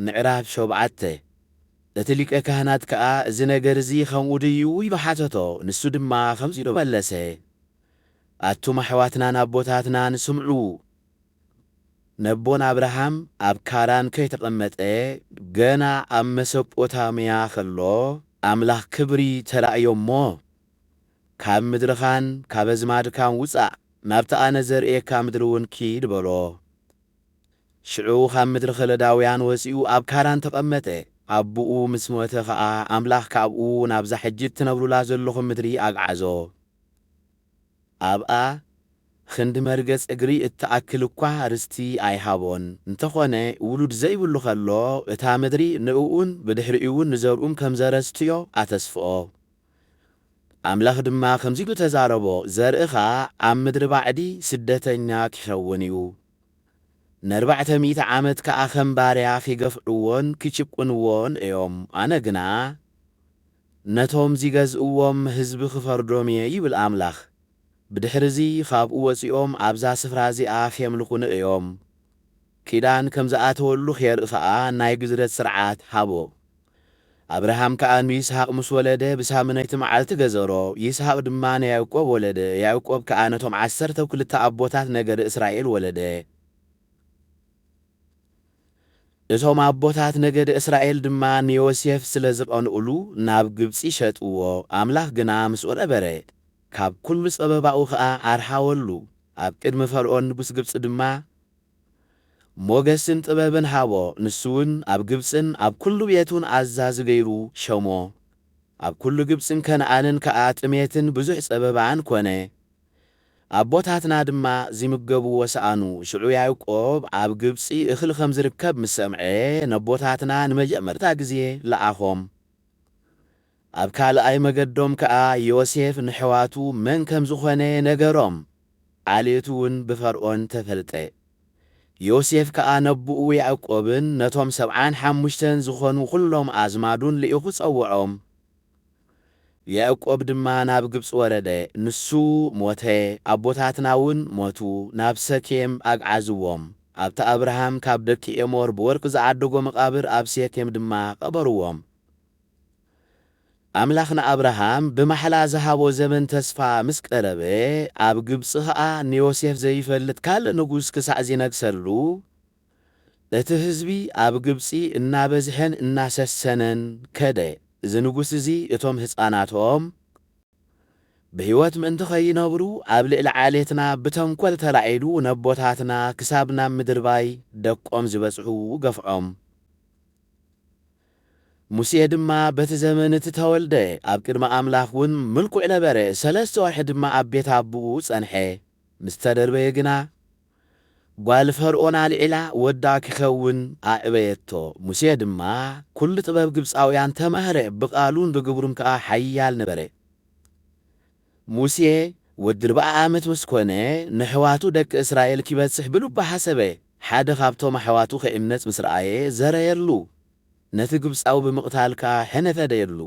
ምዕራፍ ሾብዓተ፣ እቲ ሊቀ ካህናት ከኣ እዚ ነገር እዚ ኸምኡ ድዩ? ኢሉ ሓተቶ። ንሱ ድማ ኸምዚ ኢሉ መለሰ፣ ኣቱም ኣሕዋትናን ኣቦታትናን ስምዑ፣ ነቦና ኣብርሃም ኣብ ካራን ከይተቐመጠ ገና ኣብ መሰጶታምያ ኸሎ ኣምላኽ ክብሪ ተራእዮ እሞ፣ ካብ ምድርኻን ካብ ኣዝማድካን ውጻእ፣ ናብቲ ኣነ ዘርእየካ ምድሪ እውን ኪድ በሎ። ሽዑ ኻብ ምድሪ ኸለዳውያን ወፂኡ ኣብ ካራን ተቐመጠ። ኣቦኡ ምስ ሞተ ኸዓ ኣምላኽ ካብኡ ናብዛ ሕጂ እትነብሩላ ዘሎኹም ምድሪ ኣግዓዞ። ኣብኣ ኽንዲ መርገፅ እግሪ እትኣክል እኳ ርስቲ ኣይሃቦን። እንተኾነ ውሉድ ዘይብሉ ኸሎ እታ ምድሪ ንእኡን ብድሕሪኡውን ንዘርኡም ከም ዘረስትዮ ኣተስፍኦ። ኣምላኽ ድማ ከምዚ ኢሉ ተዛረቦ፣ ዘርእኻ ኣብ ምድሪ ባዕዲ ስደተኛ ኪኸውን እዩ፣ ነርባዕተ ሚእቲ ዓመት ከኣ ከም ባርያ ኺገፍዕዎን ኪጭቍንዎን እዮም፣ ኣነ ግና ነቶም ዚገዝእዎም ህዝቢ ኽፈርዶም እየ ይብል ኣምላኽ፣ ብድሕርዚ ኻብኡ ወጺኦም ኣብዛ ስፍራ እዚኣ ኼምልኹኒ እዮም። ኪዳን ከም ዝኣተወሉ ኼርኢ ኸኣ ናይ ግዝረት ስርዓት ሃቦ። ኣብርሃም ከኣ ንይስሃቅ ምስ ወለደ፣ ብሳምነይቲ መዓልቲ ገዘሮ፣ ይስሃቅ ድማ ንያእቆብ ወለደ፣ ያእቆብ ከኣ ነቶም ዓሰርተው ክልተ ኣቦታት ነገደ እስራኤል ወለደ። እቶም ኣቦታት ነገደ እስራኤል ድማ ንዮሴፍ ስለ ዝቀንኡሉ፣ ናብ ግብጺ ሸጥዎ፣ ኣምላኽ ግና ምስኡ ነበረ፣ ካብ ኩሉ ጸበባኡ ከኣ ኣርሓወሉ፣ ኣብ ቅድሚ ፈርኦን ንጉስ ግብጺ ድማ፣ ሞገስን ጥበብን ሃቦ፣ ንሱውን ኣብ ግብጽን ኣብ ኵሉ ቤቱን ኣዛዚ ገይሩ ሸሞ። ኣብ ኵሉ ግብጽን ከነኣንን ከኣ ጥሜትን ብዙሕ ጸበባን ኰነ። ኣቦታትና ድማ ዚምገብዎ ሰኣኑ። ሽዑ ያእቆብ ኣብ ግብጺ እኽሊ ኸም ዚርከብ ምስ ሰምዐ፣ ነቦታትና ንመጀመርታ ግዜ ለኣኾም። ኣብ ካልኣይ መገዶም ከኣ ዮሴፍ ነሕዋቱ መን ከም ዝዀነ ነገሮም፣ ዓሌቱውን ብፈርኦን ተፈልጠ። ዮሴፍ ከኣ ነቦኡ ያዕቆብን ነቶም ሰብዓን ሓሙሽተን ዝዀኑ ዅሎም ኣዝማዱን ልኢኹ ጸውዖም። ያዕቆብ ድማ ናብ ግብጺ ወረደ፣ ንሱ ሞተ፣ ኣቦታትናውን ሞቱ፣ ናብ ሰኬም ኣግዓዝዎም፣ ኣብቲ ኣብርሃም ካብ ደቂ ኤሞር ብወርቂ ዝዓደጎ መቓብር ኣብ ሴኬም ድማ ቐበርዎም። ኣምላኽ ንኣብርሃም ብማሕላ ዝሃቦ ዘመን ተስፋ ምስ ቀረበ፣ ኣብ ግብጺ ኸኣ ንዮሴፍ ዘይፈልጥ ካልእ ንጉስ ክሳዕ ዚነግሠሉ፣ እቲ ሕዝቢ ኣብ ግብጺ እናበዝሐን እናሰሰነን ከደ። እዚ ንጉስ እዚ እቶም ሕፃናቶም ብሕይወት ምእንቲ ኸይነብሩ ኣብ ልዕሊ ዓሌትና ብተንኰል ተላዒሉ ነቦታትና ክሳብ ናብ ምድርባይ ደቆም ዝበጽሑ ገፍዖም። ሙሴ ድማ በቲ ዘመን እቲ ተወልደ፣ ኣብ ቅድሚ ኣምላኽ ውን ምልኩዕ ነበረ፣ ሰለስተ ወርሒ ድማ ኣብ ቤት ኣቦኡ ጸንሐ፣ ምስ ተደርበየ ግና፣ ጓል ፈርኦን ኣልዒላ ወዳ ኪኸውን ኣዕበየቶ፣ ሙሴ ድማ ኵሉ ጥበብ ግብጻውያን ተማህረ፣ ብቓሉን ብግብሩን ከኣ ሓያል ነበረ። ሙሴ ወዲ ኣርብዓ ዓመት ምስ ኰነ፣ ነሕዋቱ ደቂ እስራኤል ኪበጽሕ ብልቡ ሓሰበ። ሓደ ኻብቶም ኣሕዋቱ ኺዕመጽ ምስ ረኣየ፣ ዘረየሉ፣ ነቲ ግብጻዊ ብምቕታል ከኣ ሕነ ፈደየሉ።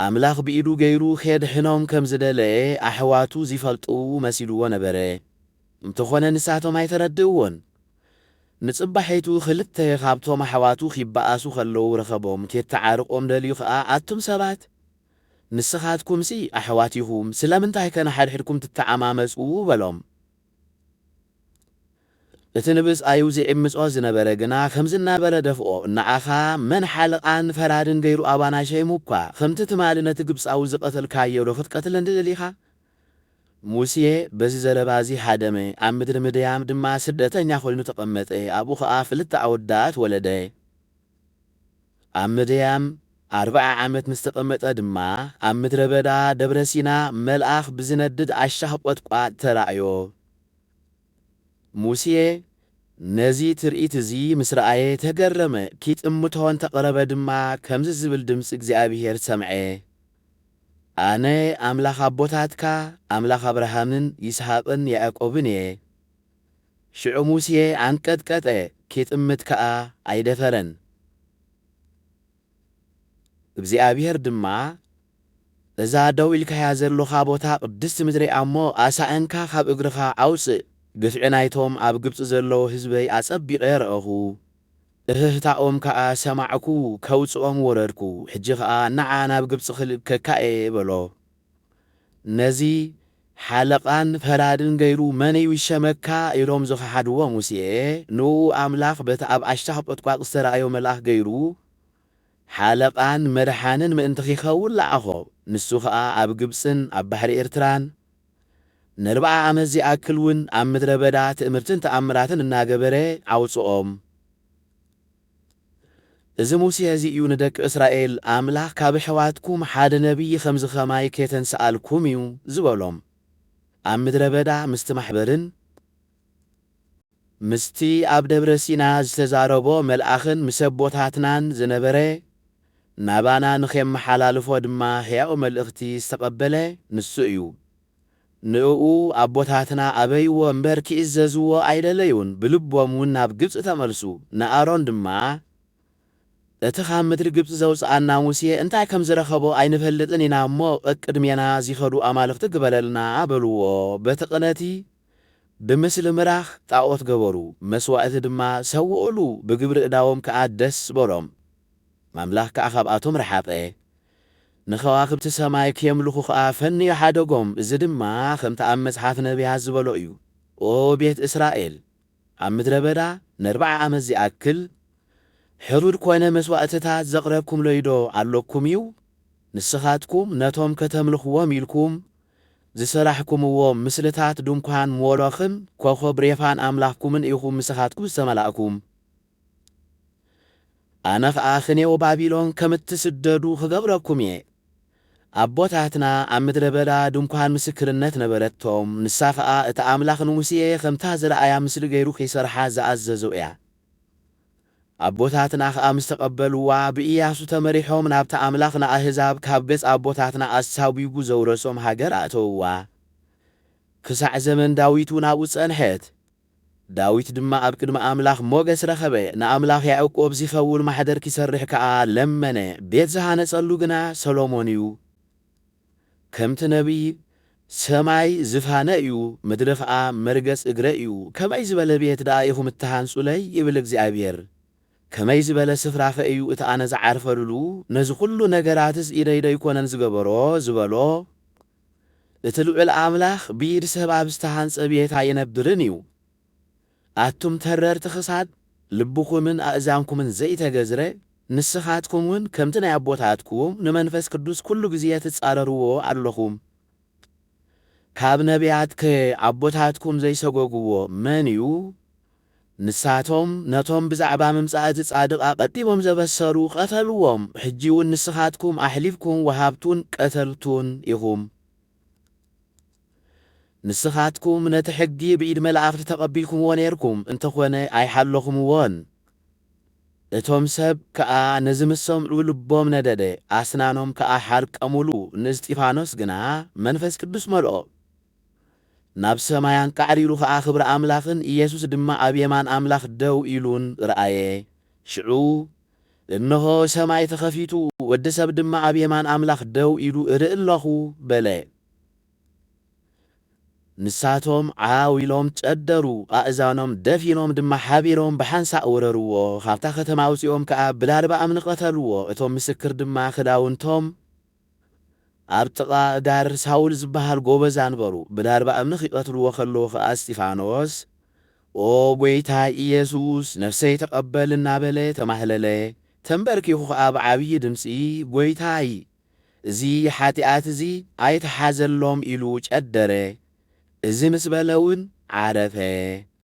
ኣምላኽ ብኢዱ ገይሩ ኼድሕኖም ከም ዝደለየ ኣሕዋቱ ዚፈልጡ መሲልዎ ነበረ፣ እንተዀነ ንሳቶም ኣይተረድእዎን። ንጽባሒቱ ኽልተ ኻብቶም ኣሕዋቱ ኺበኣሱ ኸለዉ ረኸቦም፣ ኬተዓርቖም ደልዩ ኸኣ፣ ኣቱም ሰባት! ንስኻትኩምሲ ኣሕዋት ኢኹም፣ ስለምንታይከ ንሓድሕድኩም ትተዓማመጹ? በሎም። እቲ ንብጻዩ ዚዕምጾ ዝነበረ ግና ኸምዚ እናበለ ደፍኦ፣ ንኣኻ መን ሓለቓን ፈራድን ገይሩ ኣባና ሸይሙ እኳ? ኸምቲ ትማሊ ነቲ ግብጻዊ ዝቐተልካዮዶ ኽትቀትለኒ ደሊኻ? ሙሴ በዚ ዘረባ እዚ ሃደመ፣ ኣብ ምድሪ ምድያም ድማ ስደተኛ ዀይኑ ተቐመጠ፣ ኣብኡ ኸኣ ክልተ ኣወዳት ወለደ። ኣብ ምድያም ኣርብዓ ዓመት ምስ ተቐመጠ ድማ፣ ኣብ ምድረ በዳ ደብረ ሲና መልኣኽ ብዚነድድ ኣሻኽ ቈጥቋጥ ተራእዮ። ሙሴ ነዚ ትርኢት እዚ ምስ ረኣየ ተገረመ፣ ኪጥምቶ እንተ ቐረበ ድማ ከምዚ ዚብል ድምጺ እግዚኣብሄር ሰምዐ፣ ኣነ ኣምላኽ ኣቦታትካ፣ ኣምላኽ ኣብርሃምን ይስሃቅን ያዕቆብን እየ። ሽዑ ሙሴ ኣንቀጥቀጠ፣ ኬጥምት ከኣ ኣይደፈረን። እግዚኣብሄር ድማ፣ እዛ ደው ኢልካያ ዘሎኻ ቦታ ቅድስቲ ምድሪ'ያ እሞ፣ ኣሳእንካ ኻብ እግርኻ ኣውጽእ፣ ግፍዒ ናይቶም ኣብ ግብጺ ዘለዉ ህዝበይ ኣጸቢቐ ረኣኹ፣ እህህታኦም ከኣ ሰማዕኩ፣ ከውጽኦም ወረድኩ፣ ሕጂ ኸኣ፣ ንዓ ናብ ግብጺ ኽልእከካ'የ፣ በሎ። ነዚ ሓለቓን ፈራድን ገይሩ መን'ዩ ይሸመካ? ኢሎም ዝኸሓድዎ ሙሴ፣ ንእኡ ኣምላኽ በቲ ኣብ ኣሽታኽ ቈጥቋጥ ዝተራእዮ መልኣኽ ገይሩ ሓለቓን መድሓንን ምእንቲ ኺኸውን ለኣኾ። ንሱ ኸኣ ኣብ ግብጽን ኣብ ባሕሪ ኤርትራን ነርብዓ ዓመት ዚኣክል ውን ኣብ ምድረ በዳ ትእምርትን ተኣምራትን እናገበረ ኣውጽኦም። እዚ ሙሴ እዚ እዩ ንደቂ እስራኤል፣ ኣምላኽ ካብ ኣሕዋትኩም ሓደ ነብዪ ኸምዚ ኸማይ ኬተንስኣልኩም እዩ ዝበሎም። ኣብ ምድረ በዳ ምስቲ ማሕበርን ምስቲ ኣብ ደብረ ሲና ዝተዛረቦ መልኣኽን ምስ ኣቦታትናን ዝነበረ፣ ናባና ንኼመሓላልፎ ድማ ህያው መልእኽቲ ዝተቐበለ ንሱ እዩ። ንእኡ ኣቦታትና ኣበይዎ እምበር ኪእዘዝዎ ኣይደለዩን፣ ብልቦምውን ናብ ግብጺ ተመልሱ። ንኣሮን ድማ፣ እቲ ኻብ ምድሪ ግብጺ ዘውጽኣና ሙሴ እንታይ ከም ዝረኸቦ ኣይንፈልጥን ኢና እሞ፣ ቀቅድሜና ዚኸዱ ኣማልኽቲ ግበረልና፣ በልዎ። በቲ ቕነቲ ብምስሊ ምራኽ ጣኦት ገበሩ፣ መስዋእቲ ድማ ሰውኡሉ፣ ብግብሪ እዳዎም ከኣ ደስ በሎም፣ ኣምላኽ ከኣ ኻብኣቶም ረሓቐ። ንኸዋኽብቲ ሰማይ ኬምልኹ ኸኣ ፈንዩ ሓደጎም፣ እዚ ድማ ኸምቲ ኣብ መጽሓፍ ነብያት ዝበሎ እዩ፣ ኦ ቤት እስራኤል፣ ኣብ ምድረ በዳ ነርብዓ ዓመት ዚኣክል፣ ሕሩድ ኰነ መስዋእትታት ዘቕረብኩምለይዶ ኣሎኩም እዩ? ንስኻትኩም ነቶም ከተምልኽዎም ኢልኩም ዝሰራሕኩምዎም ምስልታት ድንኳን ሞሎኽን ኰኾብ ሬፋን ኣምላኽኩምን ኢኹም ምስኻትኩም ዝተመላእኩም። ኣነ ኸኣ ኽኔው ባቢሎን ከም እትስደዱ ኽገብረኩም እየ። ኣቦታትና ኣብ ምድረ በዳ ድንኳን ምስክርነት ነበረቶም፣ ንሳ ኸኣ እቲ ኣምላኽ ንሙሴ ኸምታ ዝረኣያ ምስሊ ገይሩ ኺሰርሓ ዝኣዘዞ እያ። ኣቦታትና ኸኣ ምስ ተቐበልዋ፣ ብእያሱ ተመሪሖም ናብታ ኣምላኽ ንኣህዛብ ካብ ገጽ ኣቦታትና ኣሳጒጉ ዘውረሶም ሃገር ኣእተውዋ። ክሳዕ ዘመን ዳዊትውን ኣብኡ ጸንሐት። ዳዊት ድማ ኣብ ቅድሚ ኣምላኽ ሞገስ ረኸበ፣ ንኣምላኽ ያዕቆብ ዚኸውን ማሕደር ኪሰርሕ ከኣ ለመነ፣ ቤት ዝሃነጸሉ ግና ሰሎሞን እዩ። ከምቲ ነብዪ፣ ሰማይ ዝፋነ እዩ፣ ምድሪ ኸኣ መርገጽ እግረ እዩ፣ ከመይ ዝበለ ቤት ደኣ ኢኹም እትሃንጹለይ? ይብል እግዚኣብሄር። ከመይ ዝበለ ስፍራኸ እዩ እቲ ኣነ ዝዓርፈልሉ? ነዚ ዅሉ ነገራትስ ኢደይ ደይኰነን ዝገበሮ? ዝበሎ። እቲ ልዑል ኣምላኽ ብኢድ ሰብ ኣብ ዝተሃንጸ ቤት ኣይነብርን እዩ። ኣቱም ተረርቲ ክሳድ፣ ልብኹምን ኣእዛንኩምን ዘይተገዝረ፣ ንስኻትኩም ውን ከምቲ ናይ ኣቦታትኩም ንመንፈስ ቅዱስ ኩሉ ግዜ ትጻረርዎ ኣሎኹም። ካብ ነብያትከ ኣቦታትኩም ዘይሰጎግዎ መን እዩ? ንሳቶም ነቶም ብዛዕባ ምምጻእ እቲ ጻድቕ ኣቐዲሞም ዘበሰሩ ቐተልዎም፣ ሕጂውን ንስኻትኩም ኣሕሊፍኩም ወሃብቱን ቀተልቱን ኢኹም። ንስኻትኩም ነቲ ሕጊ ብኢድ መላእኽቲ ተቐቢልኩምዎ ኔርኩም፣ እንተኾነ ኣይሓለኹምዎን። እቶም ሰብ ከኣ ነዚ ምስ ሰምዑ ልቦም ነደደ፣ ኣስናኖም ከኣ ሓርቀሙሉ፣ ንእስጢፋኖስ ግና መንፈስ ቅዱስ መልኦ። ናብ ሰማይ ኣንቃዕሪሩ ኸኣ ክብሪ ኣምላኽን ኢየሱስ ድማ ኣብ የማን ኣምላኽ ደው ኢሉን ረኣየ። ሽዑ እንሆ፣ ሰማይ ተኸፊቱ፣ ወዲ ሰብ ድማ ኣብ የማን ኣምላኽ ደው ኢሉ እርኢ ኣሎኹ በለ። ንሳቶም ዓው ኢሎም ጨደሩ፣ ኣእዛኖም ደፊኖም ድማ ሓቢሮም ብሓንሳእ ወረርዎ፣ ኻብታ ኸተማ ኣውጺኦም ከኣ ብላልባ እምኒ ቐተልዎ፣ እቶም ምስክር ድማ ኽዳውንቶም፣ ኣብ ጥቓ እጋር ሳውል ዝበሃል ጎበዝ ኣንበሩ፣ ብዳርባ እምኒ ኺቐትልዎ ኸለዉ ኸኣ እስጢፋኖስ፣ ኦ ጐይታይ ኢየሱስ፣ ነፍሰይ ተቐበል እናበለ ተማህለለ። ተምበርኪኹ ኸኣ ብዓብዪ ድምጺ፣ ጐይታይ፣ እዚ ሓጢኣት እዚ ኣይትሓዘሎም ኢሉ ጨደረ። እዚ ምስ በለ እውን ዓረፈ።